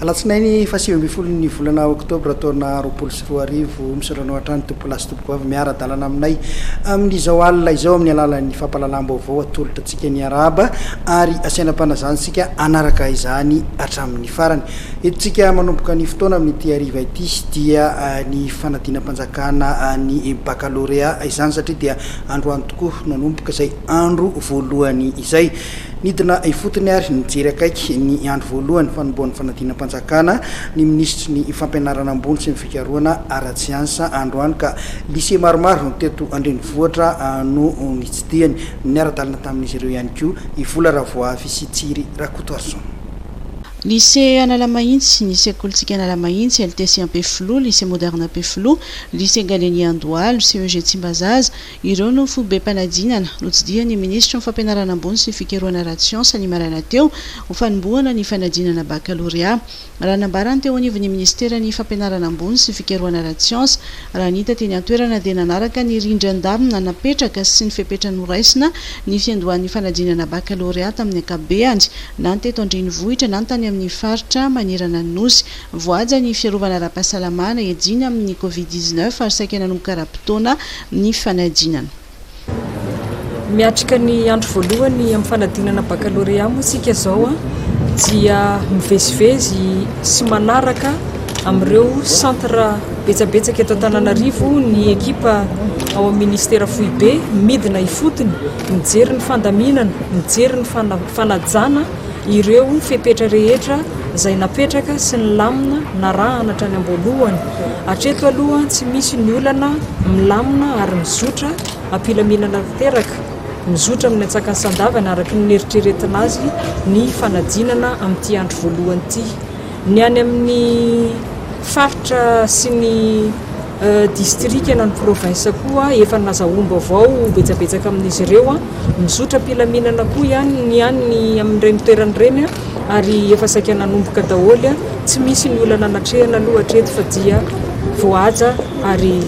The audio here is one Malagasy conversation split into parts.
Alatsinainy fahasivy ambin'ny folo ny volana oktobra taona roapolo sy roa arivo, misaotra anao hatrany Tompoko lahy sy Tompoko vavy miara-dalana aminay amin'izao alina izao amin'ny alalan'ny fampahalalam-baovao atolotra antsika niarahaba ary asaina am-panazana isika hanaraka izany hatramin'ny farany. Entintsika manomboka ny fotoana amin'ity hariva ity dia ny fanadinam-panjakana ny bakalorea izany satria dia androany tokoa no hanomboka izay andro voalohany izay. Nidina ifotony ary nijery akaiky ny andro voalohany fanombohan'ny fanadinam-panjakana ny minisitry ny Fampianarana ambony sy ny fikarohana ara-tsiansa androany ka lycée maromaro teto an-drenivohitra no nitsidihany. Niara-dalana tamin'izy ireo ihany koa i Vola Ravoavy sy Tsiry Rakotoarison. Lycée Analamahintsy, ny sekolintsika Analamahintsy, LTC Ampefiloha, Lycée Moderne Ampefiloha, Lycée Gallieni Andohalo, CEG Tsimbazaza, ireo no fobem-panadinana, notsidihan'ny Minisitry ny Fampianarana ambony sy Fikarohana ara-tsiansa ny maraina teo, ho fanombohana ny fanadinana bakalorea. Raha nambarany teo anivon'ny Minisiteran'ny Fampianarana ambony sy Fikarohana ara-tsiansa, raha nita teny an-toerana dia nanaraka ny rindran-damina napetraka sy ny fepetra noraisina ny fiandohan'ny fanadinana bakalorea tamin'ny ankapobehany, na ny teto an-drenivohitra na ny tany amin'ny faritra manerana ny Nosy. Voahaja ny fiarovana ara-pahasalama nahejina amin'ny Covid dix neuf ary saika nanomboka ara-potoana ny fanadinana. Miatrika ny andro voalohany amin'ny fanadinana bakalorea moa isika izao dia mivezivezy sy manaraka amin'ireo centre betsabetsaka eto Antananarivo ny ekipa ao amin'ny Ministera foibe midina ifotony. mijery ny fandaminana, mijery ny fanajana ireo fepetra rehetra izay napetraka sy ny lamina narahana hatrany am-boalohany. Hatreto aloha tsy misy ny olana milamina ary mizotra am-pilaminana tanteraka, mizotra amin'ny antsakany sandavany araka ny neritreretina azy ny fanadinana amin'ity andro voalohany ity. Ny any amin'ny faritra sy ny distrika na ny provinsa koa efa nazahoam-baovao betsabetsaka amin'izy ireo. Mizotra am-pilaminana koa ihany ny any amin'ireny toerana ireny ary efa saika nanomboka daholo. Tsy misy ny olana natrehana aloha hatreto fa dia voahaja ary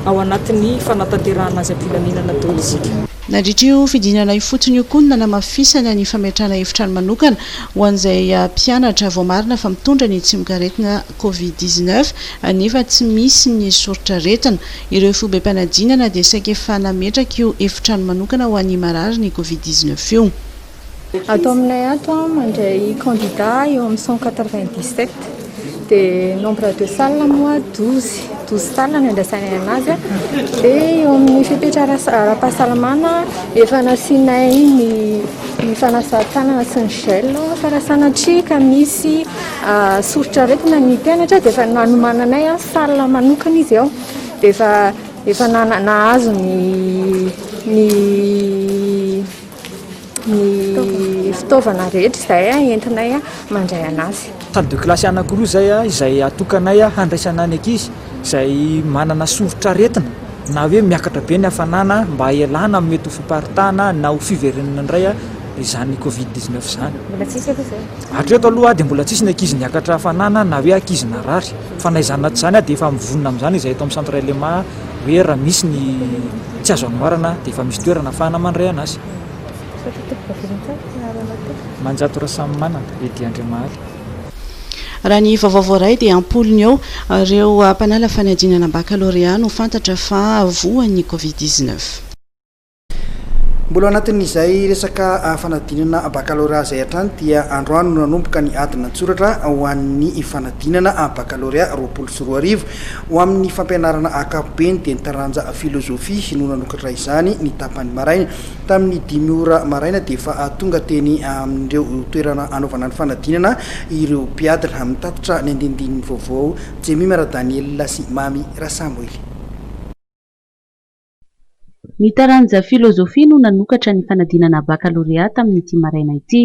ao anatin'ny fanatanterahana azy am-pilaminana daholo isika. Nandritra io fidinana ifotony io koa no nanamafisana ny fametrahana efitrano manokana ho an'izay mpianatra voamarina fa mitondra ny tsimokaretina covid dix-neuf nefa tsy misy ny soritr'aretina. Ireo fobem-panadinana dia saika efa nametraka io efitrano manokana ho an'ny marary ny covid dix-neuf io. Ato aminay ato an, mandray candidat eo amin'ny cent quatre vingt dix sept dia nombre de salle moa douze douze salle no andraisanay anazy an, dia eo amin'ny fepetra ara- ara-pahasalamana efa nasianay ny ny fanasan-tanana sy ny gel fa raha sanatria ka misy ah, soritr'aretina ny mpianatra dia efa nanomananay an salle manokana izy ao dia efa efa nana- nahazo ny ny ny fitaovana rehetra izay entinay mandray an'azy. Salle de classe anankiroa izay izay atokanay handraisana ny ankizy izay manana soritr'aretina na hoe miakatra be ny hafanana mba hialana amin'ny mety ho fiparitahana na ho fiverenana indray izany covid 19 izany. Mbola tsisy aloha izay. Hatreto aloha dia mbola tsisy ny ankizy niakatra hafanana na hoe ankizy narary fa na izany na tsy izany dia efa mivonona amin'izany izahay eto amin'ny centre LMA. hoe raha misy ny tsy azo anoharana dia efa misy toerana afahana mandrehana azy. Manjato Rasamimanana, Eddy Andriamahaly. Raha ny vaovao voaray dia am-polony eo ireo mpanala fanadinana bakalorea no fantatra fa voan'ny Covid dix-neuf. Mbola ao anatin'izay resaka fanadinana bakalorea izay hatrany dia androany no nanomboka ny adina an-tsoratra ho an'ny fanadinana bakalorea roapolo sy roa arivo ho amin'ny fampianarana ankapobeny dia ny taranja filozofia no nanokatra izany ny tapany maraina tamin'ny dimy ora maraina dia efa tonga teny amin'ireo toerana anaovana ny fanadinana ireo mpiadina mitatitra ny andinindininy vaovao Jemima Radaniela sy Mamy Rasamoily. Ny taranja filôzôfia no nanokatra ny fanadinana bakalorea tamin'ity maraina ity.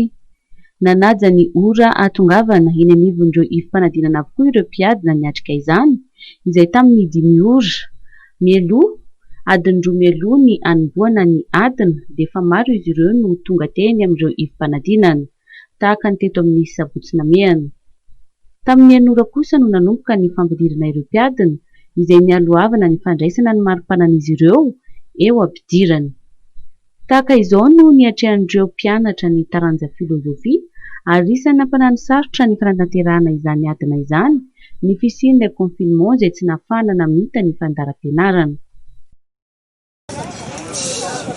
Nanaja ny ora hahatongavana eny anivon'ireo ifi-panadinana avokoa ireo mpiadina niatrika izany, izay tamin'ny dimy ora mialoha, adiny roa mialoha ny hanombohana ny adina, dia efa maro izy ireo no tonga teny amin'ireo ifi-panadinana. tahaka ny teto amin'ny Sabotsy Namehana. Tamin'ny Anora kosa no nanomboka ny fampidirana ireo mpiadina, izay nialohavana ny fandraisana ny mari-panan'izy ireo eo am-pidirana. Tahaka izao no niatrehan'ireo mpianatra ny taranja filozofia, ary isan'ny nampananosarotra ny fanatanterahana izany adina izany ny fisian'ilay confinement izay tsy nahafahana namita ny fandaharam-pianarana.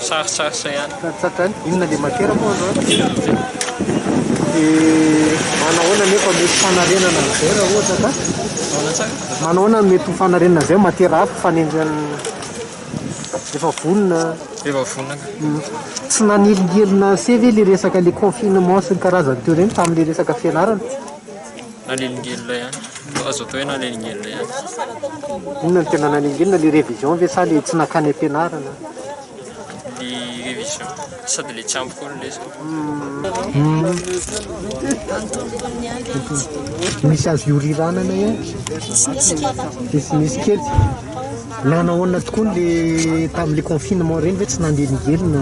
Sarisarisa ihany. Sarisarisa ihany. Inona le matière moa azo an? Dia manahoana nefa mety fanarenana an'izay raha ohatra ka? Ahoana tsara? Manahoana no mety ho fanarenana an'izay matière hafa fanenjehana efa vonona? Efa vonona. Hmm. Tsy nanelingelina ase ve le resaka le confinement sy ny karazany teo ireny tamin'ilay resaka fianarana? Nanelingelina ihany. Azo atao hoe nanelingelina ihany. Inona no tena nanelingelina? Ilay révision ve sa ilay tsy nankany am-pianarana? Ny révision. Sady ilay tsy ampy koa ny lesona. Misy azo ioriranana ihany? Misy misy kely. Nanao ahoana tokoa ilay tamin'ilay confinement ireny ve tsy nanelingelina?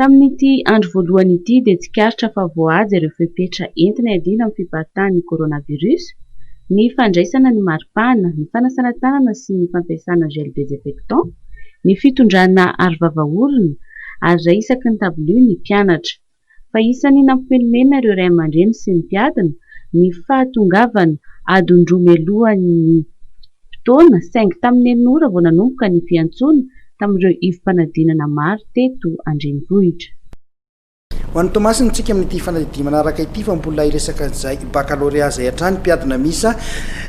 Tamin'ity andro voalohany ity dia tsikaritra fa voahaja ireo fepetra entina iadiana amin'ny fibahatahan'ny coronavirus, ny fandraisana ny maripana, ny fanasana tanana sy ny fampiasana gel désinfectant, ny fitondrana arovava orona ary iray isaky ny tabilio ny mpianatra. fa isan'ny nampimenomenona ireo ray aman-dreny sy ny mpiadina ny fahatongavana adiny roa mialohan'ny fotoana saingy tamin'ny enina ora vao nanomboka ny fiantsoana tamin'ireo ivom-panadinana maro teto an-drenivohitra. Ho an'i Toamasina, Mitsiky amin'ity fanadidia manaraka ity fa mbola hiresaka an'izay bakalorea izay hatrany mpiadina miisa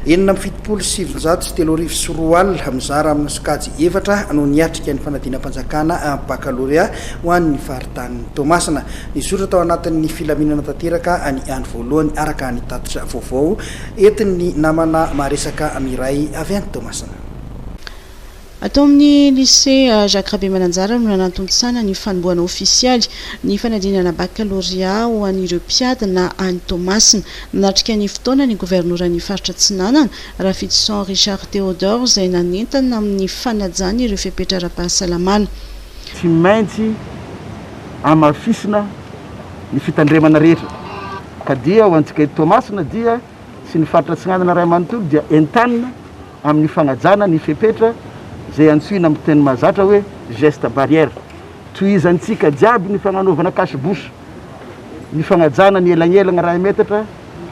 enina amby fitopolo sy sivinjato sy telo arivo sy roa alina mizara amin'ny sokajy efatra no niatrika ny fanadinam-panjakana bakalorea ho an'ny tany Toamasina. Nizotra tao anatin'ny filaminana tanteraka ny andro voalohany araka ny tatitra vaovao entin'ny namana maharesaka Miray avy any Toamasina. Ato amin'ny Lycée Jacques Rabemananjara no nanatontosana ny fanombohana ofisialy ny fanadinana bakalorea ho an'ireo mpiady na any Toamasina. Nanatrika ny fotoana ny governoran'ny faritra Atsinanana, Rafidison Richard Théodore izay nanentana amin'ny fanajana ireo fepetra ara-pahasalamana. Tsy maintsy hamafisina ny fitandremana rehetra ka dia ho antsika eto Toamasina dia sy ny faritra Atsinanana iray manontolo dia entanina amin'ny fanajana ny fepetra izay antsoina amin'ny teny mahazatra hoe gestes barrières. Tohizantsika jiaby ny fagnanaovana cache bouche, ny fagnajana ny elagnelagna iray metatra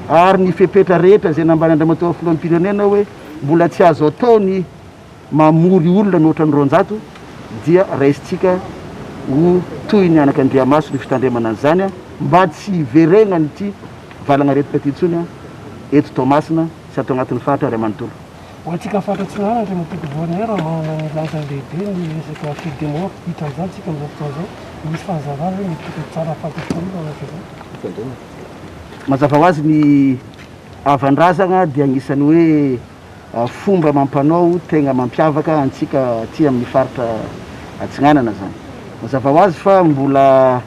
ary ny fepetra rehetra izay nambaran'Andriamatoa Filoham-pirenena hoe mbola tsy azo atao ny mamory olona mihoatra ny roanjato dia raisintsika ho toy ny anaka andriamaso ny fitandremana an'izany mba tsy hiverenan'ity valanaretika ity intsony eto Toamasina sy ato anatin'ny faritra iray manontolo. Ho antsika faritra Atsinanana, Andriamatoa Gouverneur, manana ny lanjany lehibe ny resaka fil de mort hita amin'izany isika amin'izao fotoana izao. Misy fanazavana ve mety hita tsara hahafantatr'ireo olona anaka izao? Fitandremana. Mazava ho azy ny havan-drazana dia anisan'ny hoe Fomba amam-panao tegna mampiavaka antsika aty amin'ny faritra Atsinanana zany. Mazava ho azy fa mbola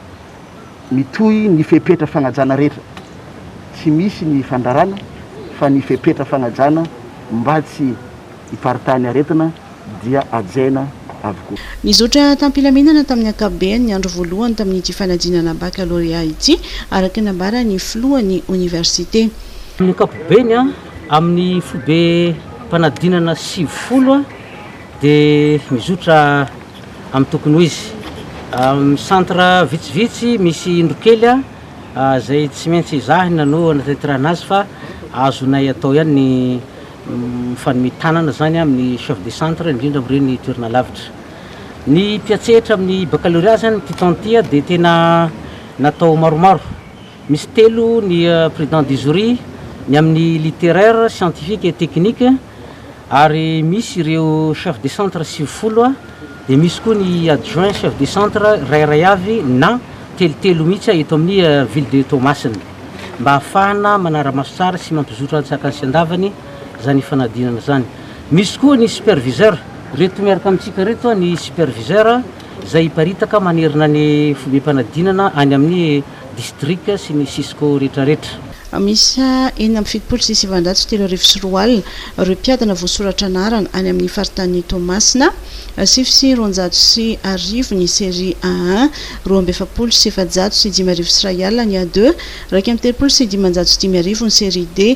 mitohy ny fepetra fagnajana rehetra. Tsy misy ny fandrarana fa ny fepetra fagnajana mba tsy hiparitahan'ny aretina dia hajaina avokoa. Nizotra tam-pilaminana tamin'ny ankapobeny ny andro voalohany tamin'ity fanadinana bakalôrea ity, araka ny nambaran'ny filohan'ny oniversite. Amin'ny ankapobeny Amin'ny foibe mpanadinana sivifolo dia mizotra amin'ny tokony ho izy. Amin'ny centre vitsivitsy misy indrokely izay tsy maintsy ezahina no hanatanterahana azy fa azonay atao ihany ny mifanome tanana izany amin'ny chef de centre indrindra amin'ireny toerana lavitra. Ny mpiantsehatra amin'ny baccalauréat izany ity taona ity dia tena natao maromaro. Misy telo ny président du jury, ny amin'ny littéraire, scientifique et technique, ary misy ireo chef de centre sivifolo, dia misy koa ny adjoint chef de centre iray iray avy na telotelo mihitsy eto amin'ny ville de Toamasina, mba hahafahana manara-maso tsara sy mampizotra an-tsakany sy an-davany izany ifanadinana izany. Misy koa ny superviseur. Ireto miaraka amintsika ireto ny superviseur izay hiparitaka manerana ny fobem-panadinana any amin'ny. distrika sy ny cisco rehetrarehetra. Miisa enina amby fitopolo sy sivinjato sy telo arivo sy roa alina ireo mpiadina voasoratra anarana any amin'ny faritanin'i Toamasina, sivy sy roanjato sy arivo ny Serie A un, roa amby efapolo sy efajato sy dimy arivo sy iray alina ny A deux, iraika amby telopolo sy dimanjato sy dimy arivo ny Serie D,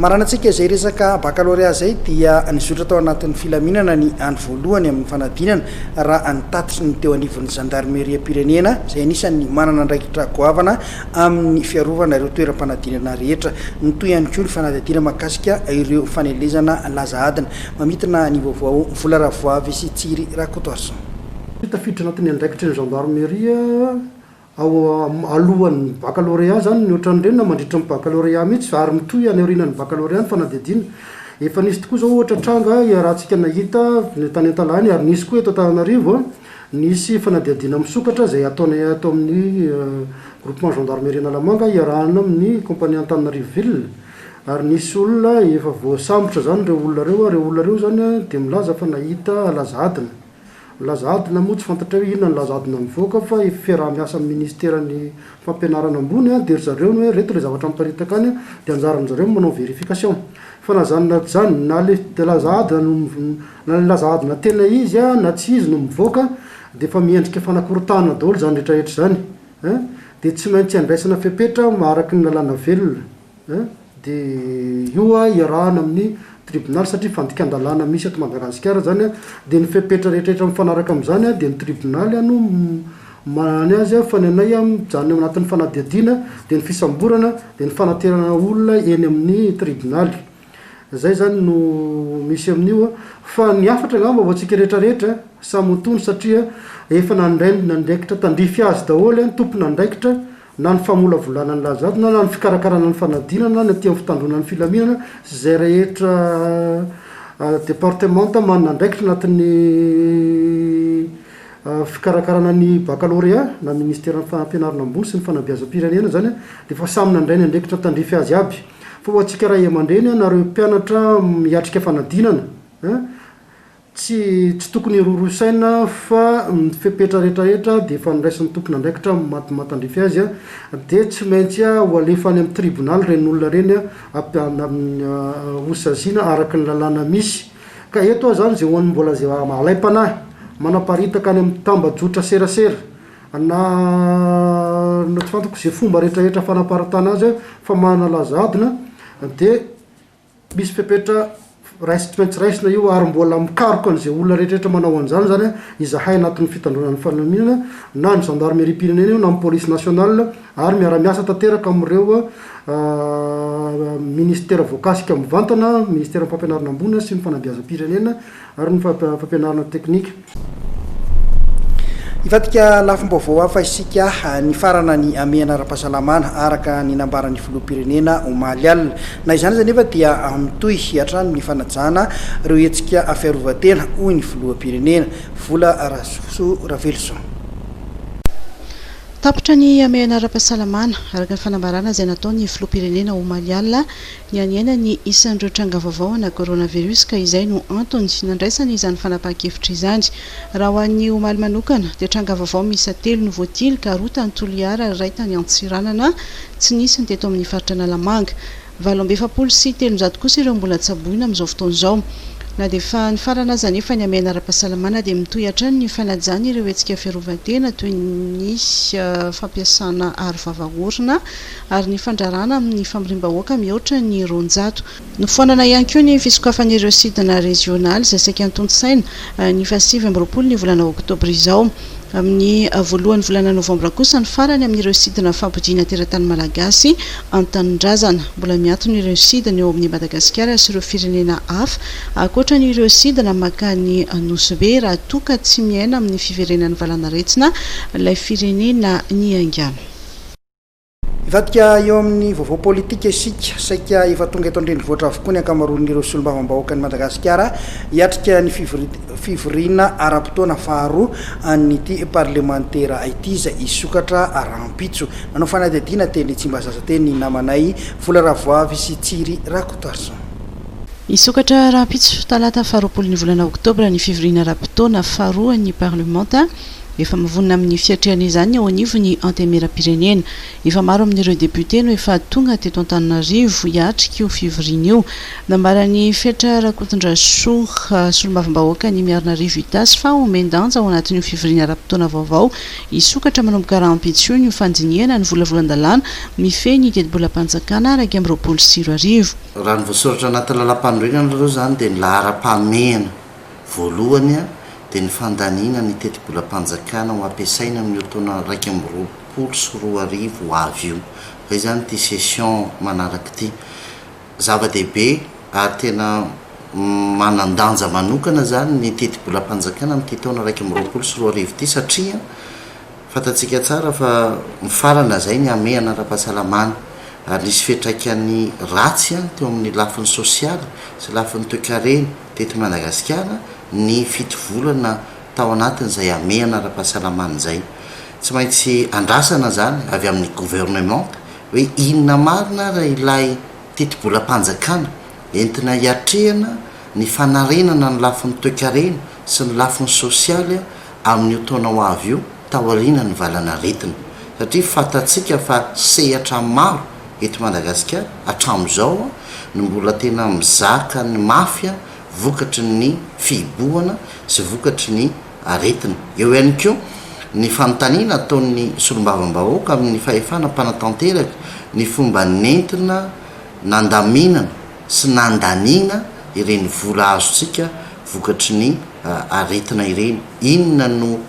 Maranantsika izay resaka bakalôrea izay dia nizotra tao anatin'ny filaminana ny any voalohany amin'ny fanadinana raha ny tatitry ny teo anivon'ny zandarimeriam-pirenena izay anisan'ny manana andraikitra goavana amin'ny fiarovana ireo toeram-panadinana rehetra. Nitohy ihany koa ny fanadihadiana mahakasika ireo fanelezana laza adina mamintina ny vaovao Vola Ravoavy sy Tsiry Rakotoarison. Tafiditra anatin'ny andraikitry ny zandarimeriam ao alohan'ny baccalauréat izany ny ohatran'ireny na mandritra ny baccalauréat mihitsy ary mitohy any aorianan'ny baccalauréat ny fanadihadiana. Efa nisy tokoa izao ohatra tranga iarahantsika nahita tany Antalaha ary nisy koa eto Antananarivo, nisy fanadihadiana misokatra izay ataonay ato amin'ny groupement gendarmerie Analamanga iarahana amin'ny compagnie Antananarivo ville ary nisy olona efa voasambotra izany ireo olona ireo, ireo olona ireo izany dia milaza fa nahita alazadina. Milaza adina moa tsy fantatrao hoe inona ny laza adina mivoaka fa efa fiaraha-miasa amin'ny ministeran'ny fampianarana ambony dia ry zareo ny hoe reto ilay zavatra miparitaka any dia anjaran-dry zareo ny manao verification fa na zany na zany na le de laza adina no na le laza adina tena izy na tsy izy no mivoaka dia efa miendrika fanakorotahana daholo izany rehetra rehetra izany eh dia tsy maintsy andraisana fepetra araka ny lalàna velona. dia io iarahana amin'ny tribonaly satria fandikan-dalàna misy eto Madagasikara izany an, dia ny fepetra rehetrarehetra mifanaraka amin'izany dia ny tribonaly no manana azy fa ny anay mijanona eo anatin'ny fanadihadiana dia ny fisamborana dia ny fanaterana olona eny amin'ny tribonaly, izay izany no misy amin'io an, fa ny hafatra angamba ho antsika rehetrarehetra samy ho tony satria efa nandray ny andraikitra tandrify azy daholo ny tompon'andraikitra na ny famolavolana ny lahazato, na ny fikarakarana ny fanadinana, na ny aty amin'ny fitandroana ny filaminana sy izay rehetra departemanta manana andraikitra anatin'ny fikarakarana ny bakalorea na ny minisiteran'ny fampianarana ambony sy ny fanabeazam-pirenena izany dia efa samy nandray ny andraikitra tandrify azy aby fa ho antsika ray aman-dreny na ireo mpianatra miatrika fanadinana Tsy tsy tokony hirorosaina fa ny fepetra rehetrarehetra dia efa noraisin'ny tompon'andraikitra matan-drify azy a, dia tsy maintsy a ho alefa any amin'ny tribonaly ireny olona ireny a, ho saziana araka ny lalàna misy. Ka eto aho izany izay ho an'ny mbola izay alaim-panahy manaparitaka any amin'ny tambajotra serasera na na tsy fantako izay fomba rehetrarehetra fanaparitahana azy a fa manalaza adina dia Misy fepetra raisitry tsy raisina io ary mbola mikaroka an'izay olona rehetrarehetra manao an'izany izany izahay anatin'ny fitandroana ny fanamiana na ny zandarimeriam-pirenena io na ny polisy nationale ary miara-miasa tanteraka amin'ireo minisitera voakasika mivantana, minisiteran'ny fampianarana ambony sy ny fanabeazam-pirenena ary ny fampianarana teknika. Hivadika lafim-baovao hafa isika, nifarana ny hamehana ara-pahasalamana, araka ny nambaran'ny filoham-pirenena omaly alina. Na izany aza anefa dia mitohy hatrany ny fanajana ireo hetsika fiarovan-tena, hoy ny filoham-pirenena. Vola Rasoa Raveloson. Tapitra ny hamehana ara-pahasalamana, araka ny fanambarana izay nataon'ny filoham-pirenena omaly alina. Nihanihana ny isan'ireo tranga vaovao ana coronavirus ka izay no antony nandraisana izany fanapahan-kevitra izany. Raha ho an'ny omaly manokana dia tranga vaovao miisa telo no voatily ka roa tany Toliara ary iray tany Antsiranana tsy nisy ny teto amin'ny faritra Analamanga. Valo amby efapolo sy telonjato kosa ireo mbola tsaboina amin'izao fotoana izao. Na dia efa nifarana aza anefa ny hamehana ara-pahasalamana dia mitohy hatrany ny fanajana ireo hetsika fiarovan-tena toy ny fampiasana aro vava orona, ary ny fandraràna amin'ny famoriam-bahoaka mihoatra ny roanjato. Nofoanana ihany koa ny fisokafan'ireo sidina rezionaly izay saika antontosaina ny fahasivy amby roapolo ny volana oktobra izao. Amin'ny voalohan'ny volana novambra kosa ny farany amin'ireo sidina fampodiana teratany malagasy an-tanindrazana. Mbola miantona ireo sidina eo amin'i Madagasikara sy ireo firenena hafa, ankoatra ny ireo sidina mankany Nosy-Be raha toa ka tsy miaina amin'ny fiverenan'ny valanaretina ilay firenena niaingàna. Hivadika eo amin'ny vaovao politika isika. Saika efa tonga eto an-drenivohitra avokoa ny ankamaroan'ireo solombavambahoakan'i Madagasikara hiatrika ny fivoriana ara-potoana faharoa an'ity parlemantera ity izay hisokatra rahampitso. Nanao fanadihadiana teny Tsimbazaza teny ny namanay Vola Ravoavy sy Tsiry Rakotoarison. Hisokatra rahampitso, talata faharoapolo ny volana oktobra ny fivoriana ara-potoana faharoa an'ny parlemanta. Efa mivonona amin'ny fiatrehana izany eo anivon'ny Antenimierampirenena. Efa maro amin'ireo depiote no efa tonga teto Antananarivo hiatrika io fivoriana io. Nambaran'i Fetra Rakotondrasoa, solombavambahoakan'i Miarinarivo Itasy fa omen-danja ao anatin'io fivoriana ara-potoana vaovao hisokatra manomboka rahampitso io ny ho fandinihana ny volavolan-dalàna mifehy ny tetibolam-panjakana iraika amby roapolo sy roa arivo. Raha ny voasoratra anaty lalàmpanorenana aloha izany dia ny laharam-pahamehana. Voalohany dia ny fandaniana ny tetibolam-panjakana ho ampiasaina amin'io taona iraika amby roapolo sy roa arivo ho avy io, izay izany ity session manaraka ity. Zava-dehibe ary tena manan-danja manokana izany ny tetibolam-panjakana amin'ity taona iraika amby roapolo sy roa arivo ity satria fantatsika tsara fa mifarana izay ny hamehana ara-pahasalamana ary nisy fiantraikany ratsy teo amin'ny lafiny sosialy sy lafiny toekarena. teto Madagasikara ny fito volana tao anatin'izay hamehana ara-pahasalamana izay. Tsy maintsy andrasana izany avy amin'ny Gouvernement hoe inona marina ary ilay tetibolam-panjakana entina hiatrehana ny fanarenana ny lafiny toekarena sy ny lafiny sosialy amin'io taona ho avy io, taoriana ny valan'aretina satria fantatsika fa sehatra maro eto Madagasikara hatramin'izao no mbola tena mizaka ny mafy vokatry ny fihibohana sy vokatry ny aretina. Eo ihany koa ny fanontaniana ataon'ny solombavambahoaka amin'ny fahefana mpanatanteraka ny fomba nentina nandaminana sy nandaniana ireny vola azontsika vokatry ny aretina ireny, inona no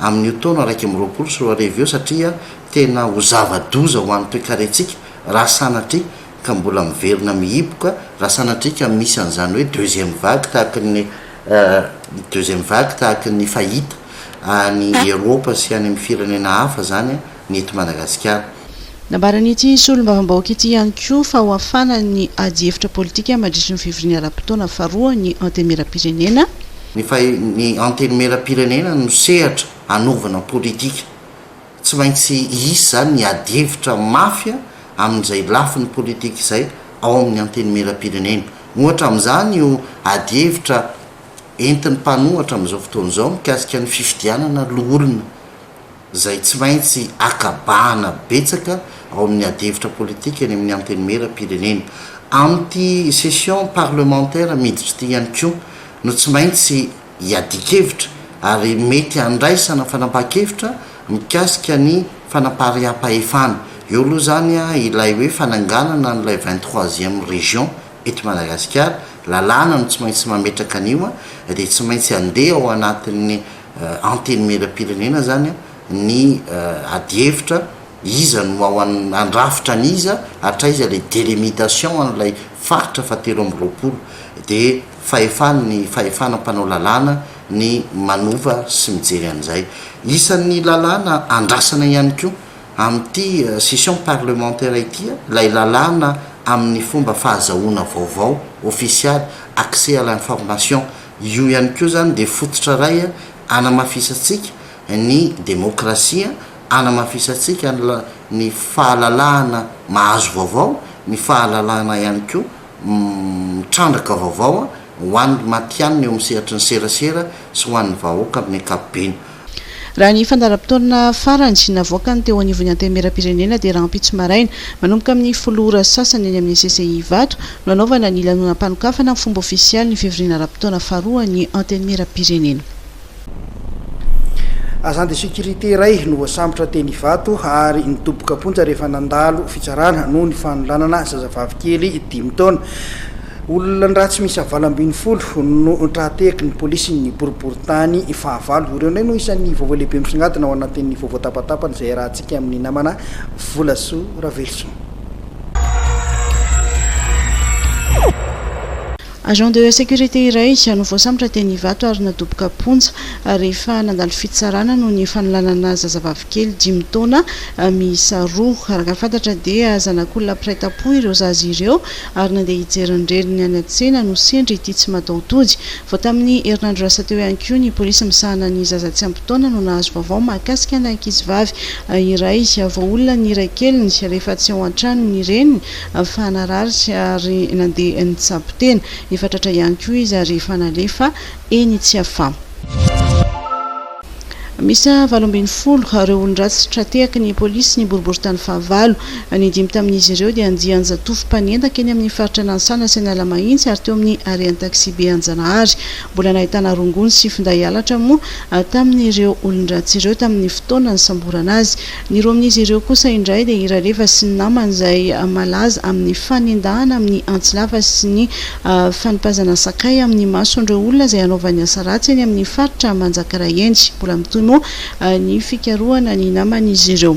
amin'io taona iraika amby roapolo sy roa arivo io satria tena ho zava-doza ho an'ny toekarentsika raha sanatria ka mbola miverina mihiboka, raha sanatria ka misy an'izany hoe deuxième vague tahaka ny deuxième vague tahaka ny fahita any Eropa sy any amin'ny firenena hafa izany. ny eto Madagasikara. Nambaran'ity solombavambahoaka ity ihany koa fa hohafana ny adihevitra politika mandritry ny fivoriana ara-potoana faharoa ny Antenimierampirenena. Ny fa ny Antenimierampirenena no sehatra hanaovana politika. Tsy maintsy hisy izany ny adihevitra mafy amin'izay lafiny politika izay ao amin'ny Antenimierampirenena. Ohatra amin'izany io adihevitra entin'ny mpanohatra amin'izao fotoana izao mikasika ny fifidianana loholona. izay tsy maintsy akabahana betsaka ao amin'ny adihevitra politika eny amin'ny Antenimieram-pirenena. Amin'ity session parlementaire miditra ity ihany koa no tsy maintsy iadian-kevitra ary mety handraisana fanapahan-kevitra mikasika ny fanapariaham-pahefana. Eo aloha izany ilay hoe fananganana an'ilay vingt troisième région eto Madagasikara, lalàna no tsy maintsy mametraka an'io dia tsy maintsy handeha ao anatin'ny Antenimieram-pirenena izany ny adihevitra, iza no ao an, handrafitra an'iza, hatraiza ilay delimitation an'ilay faritra fahatelo amby roapolo. Dia fahefan'ny fahefana mpanao lalàna ny manova sy mijery an'izay. Isan'ny lalàna andrasana ihany koa amin'ity session parlementaire ity ilay lalàna amin'ny fomba fahazahoana vaovao ofisialy, accès à l'information, Io ihany koa izany dia fototra iray anamafisantsika ny demokrasia, anamafisantsika ny fahalalahana mahazo vaovao, ny fahalalahana ihany koa mitrandraka vaovao ho an'ny matihanina eo amin'ny sehatry ny serasera sy ho an'ny vahoaka amin'ny ankapobeny. Raha ny fandaharam-potoana farany navoakany teo anivon'ny Antenimierampirenena dia rahampitso maraina, manomboka amin'ny folo ora sy sasany eny amin'ny CCI Ivato no hanaovana ny lanonam-panokafana amin'ny fomba ofisialy ny fivoriana ara-potoana faharoa ny Antenimierampirenena. Agent de sécurité iray no voasambotra teny Ivato ary nidoboka am-ponja rehefa nandalo fitsarana noho ny fanolanana zazavavy kely dimy taona. Olon-dratsy miisa valo ambin'ny folo no tra-tehaky ny polisin'ny boriborintany fahavalo. Ireo indray no isan'ny vaovao lehibe misongadina ao anatin'ny vaovao tapatapany izay iarahantsika amin'ny namana Volasoa Raveloson. Agent de sécurité iray no voasambotra teny Ivato ary nadoboka am-ponja rehefa nandalo fitsarana noho ny fanolanana zazavavy kely dimy taona miisa roa. Araka ny fantatra dia zanak'olona mpiray tampo ireo zaza ireo ary nandeha hijery ny reniny any an-tsena no sendra ity tsy mataho-tody. Vao tamin'ny herinandro lasa teo ihany koa, ny polisy misahana ny zaza tsy ampy taona no nahazo vaovao mahakasika ana ankizivavy iray voaolona ny iray keliny rehefa tsy ao an-trano ny reniny fa narary ary nandeha nitsabo tena. Efa tratra ihany koa izy ary efa nalefa eny Tsiafamo. Miisa valo ambin'ny folo ireo olon-dratsy tra-tehaky ny polisy ny boriborintany fahavalo. Ny dimy tamin'izy ireo dia andian-jatovo mpanendaka eny amin'ny faritra Nansana sy Analamahitsy ary teo amin'ny harean'ny taksibe Anjanahary. Mbola nahitana rongony sy finday halatra moa tamin'ireo olon-dratsy ireo tamin'ny fotoana nisamborana azy. Ny roa amin'izy ireo kosa indray dia i Raleva sy ny namany izay malaza amin'ny fanendahana amin'ny antsy lava sy ny fanipazana sakay amin'ny mason'ireo olona izay hanaovany asa ratsy eny amin'ny faritra Manjakaray eny. Mbola mitohy moa ny fikarohana ny naman'izy ireo.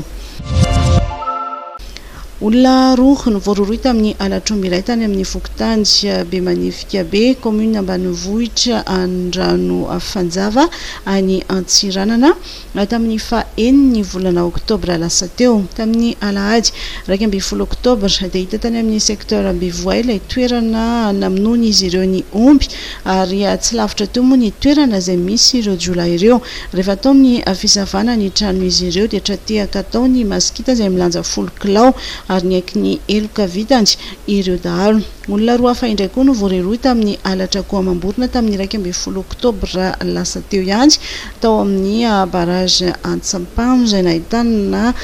Olona roa no voarohirohy tamin'ny halatr'omby iray tany amin'ny fokontany Bemanifikabe, kaominina ambanivohitra Andranofanjava, any Antsiranana. na tamin'ny faha enin'ny volana oktobra lasa teo. Tamin'ny alahady iraika ambin'ny folo oktobra dia hita tany amin'ny secteur Ambivoay ilay toerana namonoan'izy ireo ny omby ary tsy lavitra teo moa ny toerana izay misy ireo jiolahy ireo. Rehefa atao ny fisavana ny tranon'izy ireo dia tra-tehaka atao ny masikita izay milanja folo kilao ary niaiky ny heloka vitany ireo dahalo. Olona roa hafa indray koa no voarerohy tamin'ny halatra akoho amam-borona tamin'ny iraika ambin'ny folo oktobra lasa teo ihany tao amin'ny barrage Antsampano izay nahitana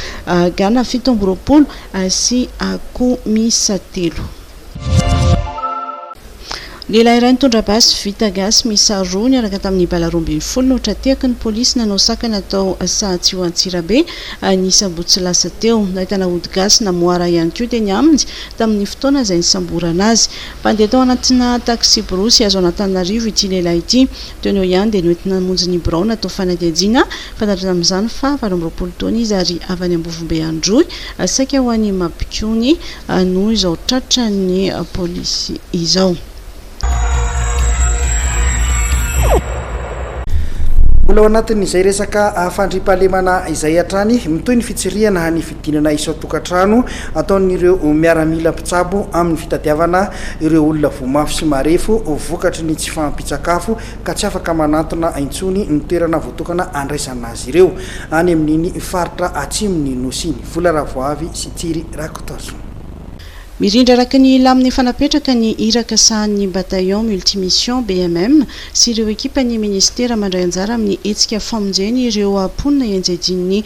gana fito amby roapolo sy akoho miisa telo. Lehilahy iray nitondra basy vita gasy miisa roa niaraka tamin'ny bala roa ambin'ny folo no tra-tehaky ny polisy nanao sakana tao Sahatsiho Antsirabe ny sabotsy lasa teo. Nahitana ody gasy namoara ihany koa teny aminy tamin'ny fotoana izay nisamborana azy. Mpandeha tao anatina taksiborosy azo an'Antananarivo ity lehilahy ity. Teo no ihany dia noentina namonjy ny birao natao fanadihadiana, fantatro tamin'izany fa valo amby roapolo taona izy ary avy any Ambovombe Androy, saika ho any Mabikony no izao tratran'ny polisy izao. Mbola ao anatin'izay resaka fandriampahalemana izay hatrany, mitohy ny fitsirihana ny. Dinana isan-tokantrano ataon'ireo miaramila mpitsabo amin'ny fitadiavana ireo olona voa mafy sy marefo vokatry ny tsy fahampian-tsakafo ka tsy afaka manantona intsony ny toerana voatokana handraisana azy ireo any amin'iny faritra atsimon'ny Nosy iny. Vola Ravoavy sy Tsiry Rakotoarison. Mirindra araka ny lamina efa napetraka ny iraka sahanin'ny Bataillon Multimission, BMM, sy ireo ekipan'ny Ministera mandray anjara amin'ny hetsika famonjena ireo mponina ianjadian'ny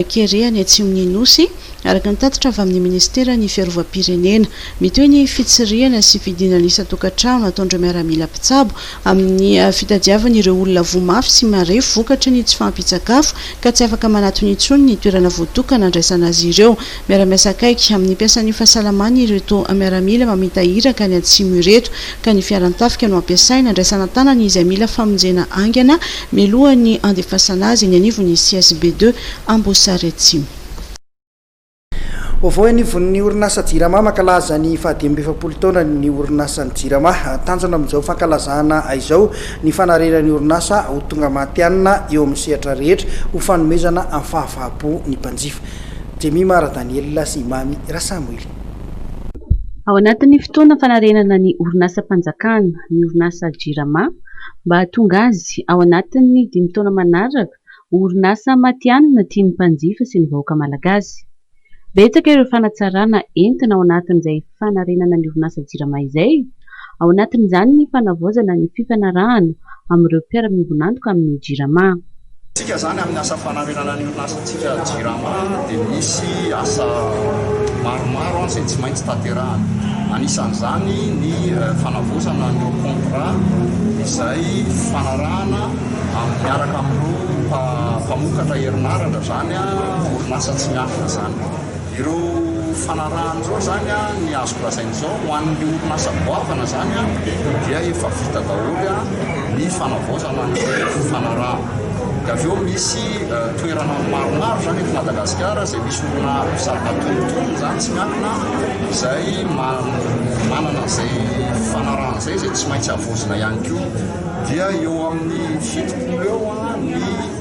kere any atsimon'ny Nosy, araka ny tatitra avy amin'ny Ministeran'ny Fiarovam-pirenena. Mitohy ny fitsirihana sy fidinana isan-tokantrano ataon'ireo miaramila mpitsabo amin'ny fitadiavana ireo olona voa mafy sy marefo vokatry ny tsy fahampian-tsakafo ka tsy afaka manatona intsony ny toerana voatokana handraisana azy ireo. Miara-miasa akaiky amin'ny mpiasan'ny fahasalamana ireto miaramila mamita iraka any atsimo ireto ka ny fiaran-tafika no ampiasaina handraisana an-tanana izay mila famonjena haingana mialohan'ny handefasana azy eny anivon'ny CSB deux Amboasary Atsimo. Vaovao eo anivon'ny orinasa Jirama, mankalaza ny fahadimy amby efapolo taonany ny orinasan'ny Jirama. Tanjona amin'izao fankalazana izao ny fanarena ny orinasa ho tonga matihanina eo amin'ny sehatra rehetra ho fanomezana fahafahampo ny mpanjifa. Jemima Radanielina sy Mamy Rasamoily. Ao anatin'ny fotoana fanarenana ny orinasam-panjakana ny orinasa Jirama mba hahatonga azy ao anatin'ny dimy taona manaraka ho orinasa matihanina tian'ny mpanjifa sy ny vahoaka malagasy. Betsaka ireo fanatsarana entina ao anatin'izay fanarenana ny orinasa Jirama izay. Ao anatin'izany ny fanavaozana ny fifanarahana amin'ireo mpiara-miombon'antoka amin'ny Jirama. Isika izany amin'ny asa fanarenana ny orinasantsika Jirama dia misy asa maromaro izay tsy maintsy tanterahana. Anisan'izany ny fanavaozana ny contrat izay fifanarahana miaraka amin'ireo mpamokatra herinaratra izany orinasa tsy miankina izany. Ireo fanarahana ireo izany ny azoko lazaina izao ho an'ny orinasa goavana izany dia efa vita daholo ny fanavaozana ny fanarahana. Dia avy eo misy toerana maromaro izany eto Madagasikara izay misy olona mpisava antonontonony izany tsy miankina izay manana izay fanarahana izay izay tsy maintsy havaozina ihany koa. Dia eo amin'ny fitopolo eo ny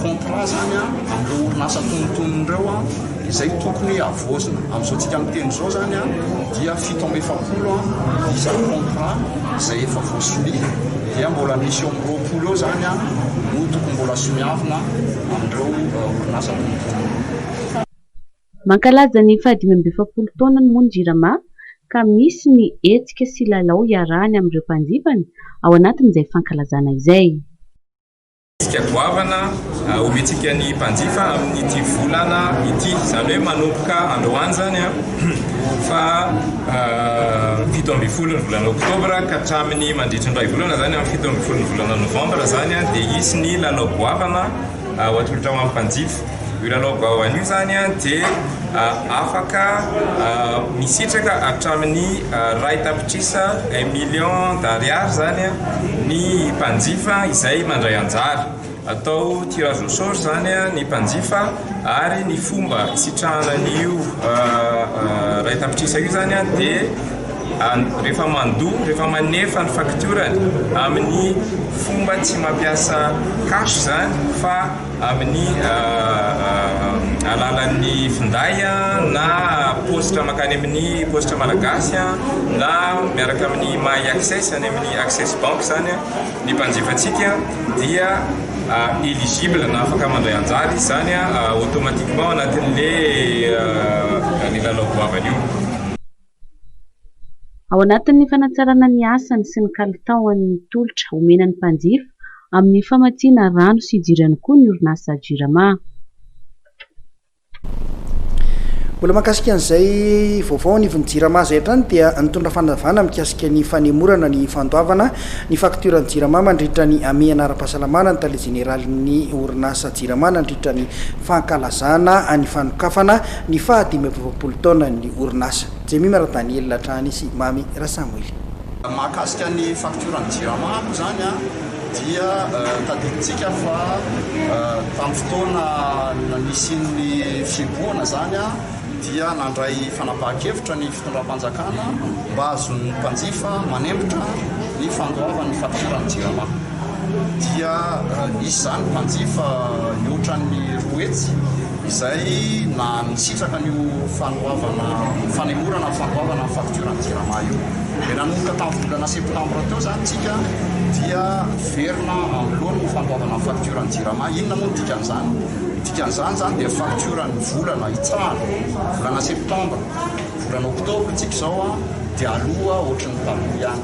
contrat zany an amin'ireo orinasa antonontonony ireo an izay tokony havoazina amin'izao tsika miteny izao zany an dia fito amby efapolo an isa contrat izay efa voasonia dia mbola misy eo amin'ny roapolo eo zany an no tokony mbola soniavina amin'ireo euh, orinasa antonontonony Mankalaza ny fahadimy amby efapolo taonany moa ny Jirama ka misy ny hetsika sy lalao iarahany amin'ireo mpanjifany ao anatin'izay fankalazana izay. Tsika goavana omentsika ny mpanjifa amin'ity volana ity, izany hoe manomboka androany izany fa fito ambin'ny folo ny volana oktobra ka hatramin'ny mandritry ny iray volana izany amin'ny fito ambin'ny folo ny volana novambra izany dia hisy ny lalao goavana ho atolotra ho an'ny mpanjifa. Milalao bao anio izany dia afaka misitraka hatramin'ny iray tapitrisa, un million d'ariary, izany ny mpanjifa izay mandray anjara. Atao tirage au sort izany ny mpanjifa ary ny fomba hisitrahana an'io iray tapitrisa io izany dia rehefa mandoa, rehefa manefa ny faktiorany amin'ny fomba tsy mampiasa cash izany fa. amin'ny alalan'ny finday na paositra mankany amin'ny paositra malagasy na miaraka amin'ny my access any amin'ny access bank izany ny mpanjifantsika dia eligible na afaka mandray anjara izy izany automatiquement anatin'ilay lalao goavana io. Ao anatin'ny fanatsarana ny asany sy ny kalitaony ny tolotra omena ny mpanjifa amin'ny famatsiana rano sy jiro ihany koa ny orinasa Jirama. Mbola mahakasika an'izay vaovao anivon'ny Jirama izay hatrany dia nitondra fanazavana mikasika ny fanemorana ny fandoavana ny faktioran'ny Jirama mandritra ny hamehana ara-pahasalamana ny tale jeneralin'ny orinasa Jirama nandritra ny fankalazana ny fanokafana Ny faha dimy amby efapolo taonan'ny orinasa, Jemima Radanielina hatrany sy Mamy Rasamwily. Mahakasika ny faktioran'ny Jirama moa izany dia tadidintsika fa tamin'ny fotoana nisian'ny fihibohana izany dia nandray fanapahan-kevitra ny fitondram-panjakana mba hahazoan'ny mpanjifa manempotra ny fandoavany ny faktioran'ny Jirama. dia nisy izany mpanjifa mihoatra ny roa hetsy izay nisitraka an'io fanoavana, fanemorana ny fanoavana ny faktiora ny jirama io. Dia nanomboka tamin'ny volana septambra teo izany tsika dia miverina anoloany ny fanoavana ny faktiora ny jirama. Inona moa ny dikan'izany? Ny dikan'izany izany dia faktiora ny volana hitsahana, volana septambra, volana oktobra tsika izao dia aloa ohatry ny taloha ihany.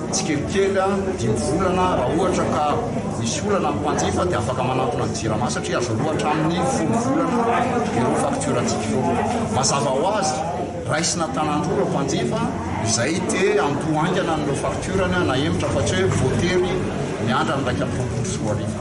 Tsikelikely dimy volana raha ohatra ka misy olana ny mpanjifa dia afaka manantona ny Jirama satria azo aloa hatramin'ny folo volana ireo faktiorantsika ireo. Mazava ho azy, raisina tanan-droa ireo mpanjifa izay te handoa haingana an'ireo faktiorany nahemotra fa tsy hoe voatery miandry amin'ny iraika amby roapolo sy roa arivo.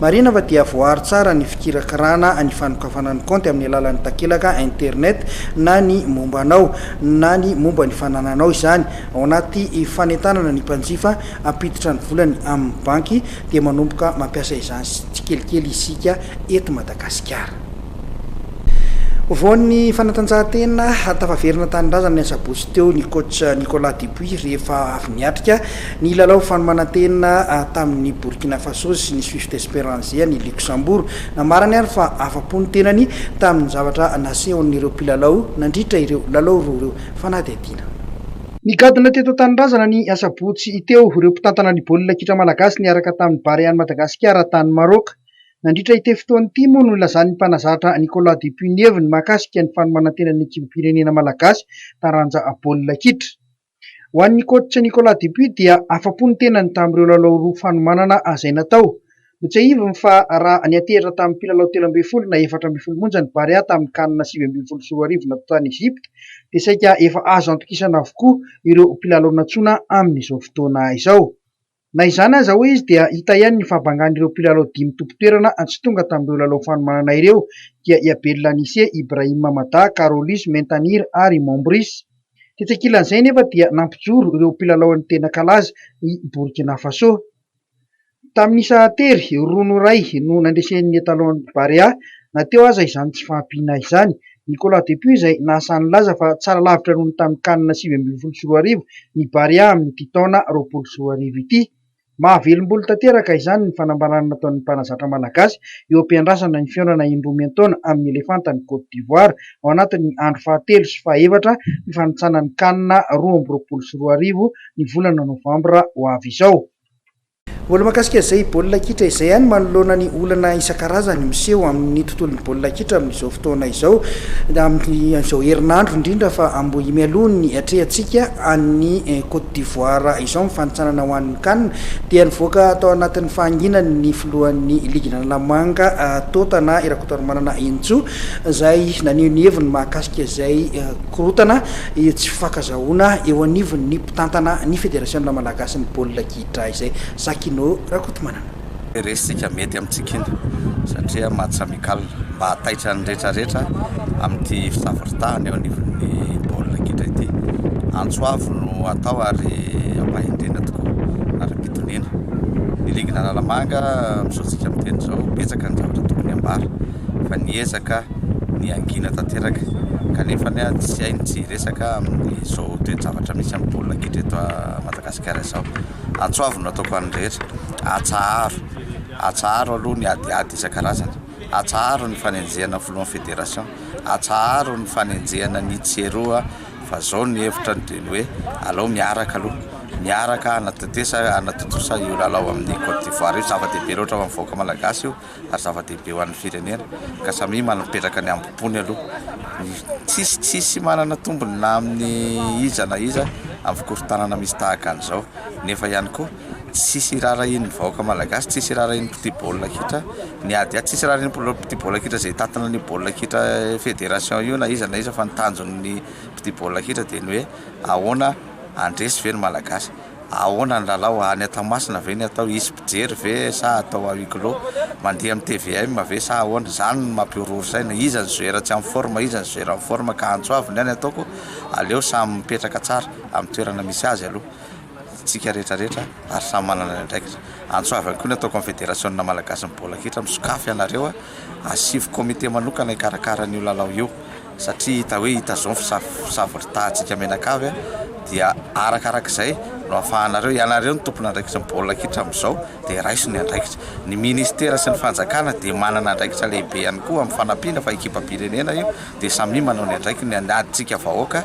Marina fa dia voaaro tsara ny fikirakirana ny fanokafana ny kaonty amin'ny alalan'ny takelaka internet na ny momba anao na ny momba ny fanananao izany ao anaty fanentanana ny mpanjifa hampiditra ny volany amin'ny banky dia manomboka mampiasa izany tsikelikely isika eto Madagasikara. Vao ny fanatanjahantena tafaverina an-tanindrazana ny asabotsy teo ny coach Nicolas Dupuis rehefa avy niatrika Ny lalao fanomanan-tena tamin'i Burkina Faso sy ny Swift Esperance an'i Luxembourg. Namarany ary fa afa-po ny tenany tamin'ny zavatra nasehon'ireo mpilalao nandritra ireo lalao roa ireo fanadihadiana. Nigadona teto an-tanindrazana ny asabotsy teo ireo mpitantana ny baolina kitra malagasy niaraka tamin'ny Barean'i Madagasikara tany Maroc. Nandritra ity fotoana ity moa no nilazan'ny mpanazatra Nicolas Dupunievy ny mahakasika ny fanomanan-tenan'ny ekipim-pirenena malagasy taranja baolina kitra. Ho an'ny coach Nicolas Dupuis dia afa-po ny tenany tamin'ireo lalao roa fanomanana azay natao. Notsiahiviny fa raha niantehitra tamin'ny mpilalao telo ambin'ny folo na efatra ambin'ny folo monja ny Barea tamin'ny Can sivy ambin'ny folo sy roa arivo natao tany Egypte dia saika efa azo antokisana avokoa ireo mpilalao nantsoina amin'izao fotoana izao. Na izany aza, hoy izy, dia hita ihany ny fahabangan'ireo mpilalao dimy tompon-toerana tsy tonga tamin'ireo lalao fanomanana ireo, dia i Abel Lanise, Ibrahim Mamada, Carolus Mentanir ary Mombris. Tetsy ankilan'izay anefa dia nampijoro ireo mpilalaon'ny tena kalaza i Burkina Faso. Tamin'ny isa tery, roa no iray no nandresen'ny Etalon Barea, na teo aza izany tsy fahampiana izany. Nicolas Dupuis izay nahasahy nilaza fa tsara lavitra noho ny tamin'ny Can sivy ambin'ny folo sy roa arivo ny Barea amin'ity taona roapolo sy roa arivo ity. Mahavelom-bolo tanteraka izany ny fanambarana nataon'ny mpanazatra malagasy eo am-piandrasana ny fihaonana indroa miantaona amin'ny Elefanta ny Côte d'Ivoire ao anatin'ny andro fahatelo sy fahefatra fifanintsanan'ny Can roa amby roapolo sy roa arivo ny volana novambra ho avy izao. Mbola mahakasika izay baolina kitra izay ihany manoloana ny olana isan-karazany miseho amin'ny tontolon'ny baolina kitra amin'izao fotoana izao, amin'izao herinandro indrindra fa Ambohimialohan'ny hiatrehantsika an'i Côte d'Ivoire izao amin'ny fanintsanana ho an'ny Can, dia nivoaka tao anatin'ny fahanginany ny filohan'ny ligina Analamanga Tôtana Rakotoarimanana Henintsoa izay naneho ny heviny mahakasika izay korontana tsy fankazahona eo anivon'ny mpitantana ny Federasiona Malagasin'ny Baolina hidra izay. Zakino Rakotomanana. Resika mety amintsika iny satria match amical mba hahataitra ny rehetra rehetra amin'ity fisaforitahana eo anivon'ny baolina kitra ity. Antso avo no atao ary ampahendrena tokoa ary ampitoniana. Ny ligina Analamanga misaontsika miteny izao betsaka ny zavatra tokony ambara fa niezaka ny hangina tanteraka kanefa tsy hainy tsy hiresaka amin'izao toe-javatra misy amin'ny baolina kitra eto Madagasikara. Kara zao atsoavy no ataoko any rehetra atsaharo atsaharo aloha ny adiady isan-karazany atsaharo ny fanenjehana ny filohan'ny federation atsaharo ny fanenjehana ny tsy eroa fa zao ny hevitra ny dia ny hoe alao miaraka aloha miaraka anatatesa anatontosa io lalao amin'ny cote d'ivoire io zava-dehibe loatra ho an'ny vahoaka malagasy io ary zava-dehibe ho an'ny firenena ka samia manapetraka ny hambom-pony aloha ny tsisy tsisy manana tombony na amin'ny iza na iza amin'ny fikorontanana misy tahaka an'izao nefa ihany koa tsisy irarahin'ny vahoaka malagasy tsisy irarahin'ny mpitia baolina kitra ny ady ady tsisy irarahin'ny mpitia baolina kitra izay tatina ny baolina kitra fédération io na iza na iza fa ny tanjon'ny mpitia baolina kitra dia ny hoe ahoana andresy ve ny malagasy Ahoana ny lalao? Any Tamasina ve ny atao? Hisy mpijery ve sa atao à huis clos? Mandeha amin'ny tvm ve sa ahoana? Izany no mampihorohoro saina. Iza no joueur tsy en forme? Iza no joueur en forme? Ka antso avy ny any ataoko, aleo samy mipetraka tsara amin'ny toerana misy azy aloha isika rehetra rehetra ary samy manana ny andraikitra. Antso avy ihany koa ny ataoko amin'ny federasiona malagasin'ny baolina kitra, misokafy ianareo asivo comité manokana hikarakara an'io lalao io. satria hita hoe hitazon fisavon dry tahantsika mianakavy dia arakarak'izay no afahanareo ianareo ny tompon andraikitry ny baolina kitra amin'izao dia raiso ny andraikitra ny ministera sy ny fanjakana dia manana andraikitra lehibe ihany koa amin'ny fanampiana fa ekipam-pirenena io dia samia manao ny andraikiny ny adintsika vahoaka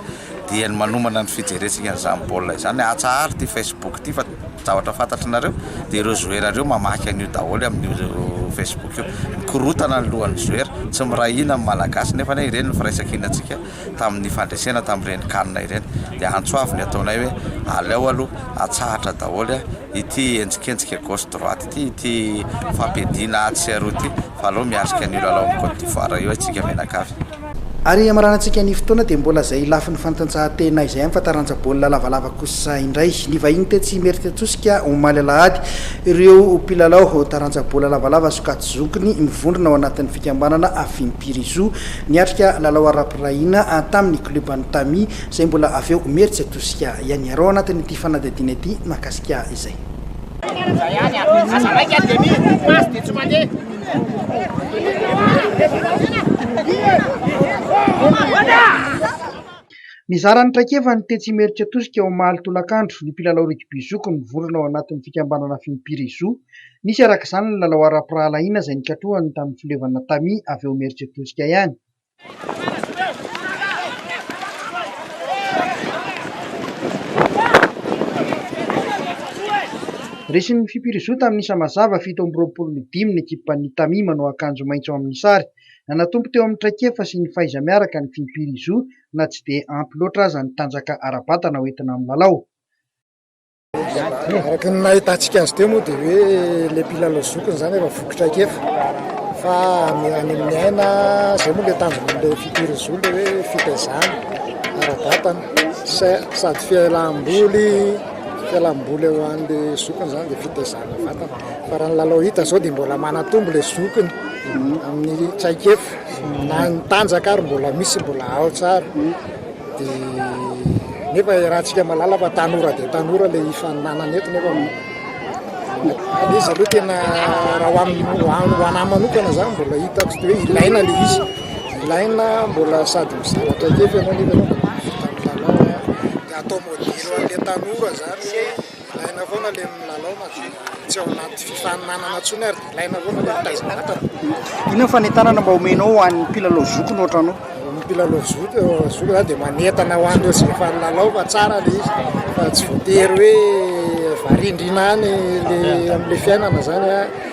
dia ny manomana ny fijerentsika an'izany baolina izany, atsaharo ity Facebook ity fa zavatra fantatrinareo dia ireo joueurs ireo mamaky an'io daholo amin'io Facebook io, mikorotana ny lohan'ny joueurs, tsy miray hina ny Malagasy nefa anie ireny ny firaisan-kinantsika tamin'ny fandresena tamin'ireny can ireny, dia antso avy ny ataonay hoe aleo aloha atsahatra daholo ity henjikenjika gauche droite ity, ity fampiadiana atsy sy aroa ity fa aleo miatrika an'io lalaon'i Côte d'Ivoire io isika mianakavy. Ary hamaranantsika ny fotoana dia mbola izay lafiny fantanjahantena izay fa taranja baolina lavalava kosa indray. Nivahiny tetsy Imerintsiatosika omaly alahady ireo mpilalao taranja baolina lavalava sokajy-zonkiny mivondrona ao anatin'ny fikambanana Afimpirizo niatrika lalao ara-pirahina tamin'ny klioban'ny Tami izay mbola avy ao Imerintsiatosika ihany. Iaraho anatin'ity fanadihadiana ity mahakasika izay. Nizara ny traikefany tetsy Imeritsiatosika omaly tolakandro ny mpilalao rugby zoky mivondrona ao anatin'ny fikambanana Fimpiri Zoo. Nisy araka izany ny lalao ara-pirahalahiana izay nikatrohany tamin'ny fileovana tamis avy ao Imeritsiatosika ihany. Resin'ny Fipirizo tamin'ny isa mazava fito amby roapolo ny dimy ny ekipan'ny Tamis manao akanjo maitso amin'ny sary. Nanatombo teo amin'ny traikefa sy ny fahaiza-miaraka ny Fipirizo na tsy dia ampy loatra aza ny tanjaka ara-batana hoentina amin'ny lalao. Araka ny nahitantsika azy teo moa dia hoe ilay mpilalao zokiny izany efa voky traikefa fa any amin'ny aina izay moa ilay tanjon'ilay fitiry zo ilay hoe fitaizana ara-batana sady fialam-boly fialam-boly eo an'ilay zokiny izany dia fitaizana vatana fa raha ny lalao hita izao dia mbola manatombo ilay zokiny amin'ny traikefa na ny tanjaka ary mbola misy mbola ao tsara Dia nefa iarahantsika malala fa tanora dia tanora ilay hifaninanana eto nefa ilay izy aloha tena raha ho amin'ny ho anahy manokana izany mbola hitako hoe ilaina ilay izy ilaina mbola sady mizara traikefa ianao nefa ianao mbola mivitan'ny lalao dia atao modely ho an'ilay tanora izany hoe Ilaina foana ilay milalao fa tsy ao anaty fifaninanana intsony ary dia ilaina foana ilay mitaiza vatana. Inona ny fanentanana mba omenao ho an'ny mpilalao zoky no ohatranao? Ny mpilalao zoky zoky zany dia manentana ho an'ireo izay efa nilalao fa tsara ilay izy fa tsy voatery hoe varindrina any ilay amin'ilay fiainana izany a.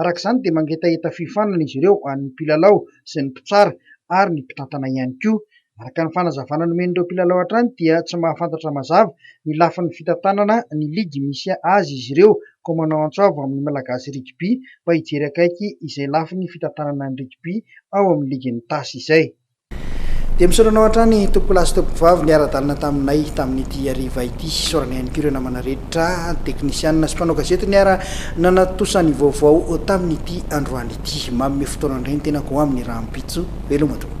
Araka izany dia mangetaheta fiofanana izy ireo an'ny mpilalao sy ny mpitsara ary ny mpitantana ihany koa. Araka ny fanazavana nomen'ireo mpilalao hatrany dia tsy mahafantatra mazava ny lafiny fitantanana ny ligy misy azy izy ireo koa manao antso avo amin'ny Malagasy Rugby mba hijery akaiky izay lafiny fitantanana ny rugby ao amin'ny ligin'ny Tasy izay. Dia misaotra anao hatrany tompokolahy sy tompokovavy niara-dalana taminay tamin'ity hariva ity. Isaorana ihany koa ireo namana rehetra, teknisianina sy mpanao gazety niara nanatosa ny vaovao tamin'ity androany ity. Manome fotoana indray ny tenako ho amin'ny rahampitso. Veloma tompoko.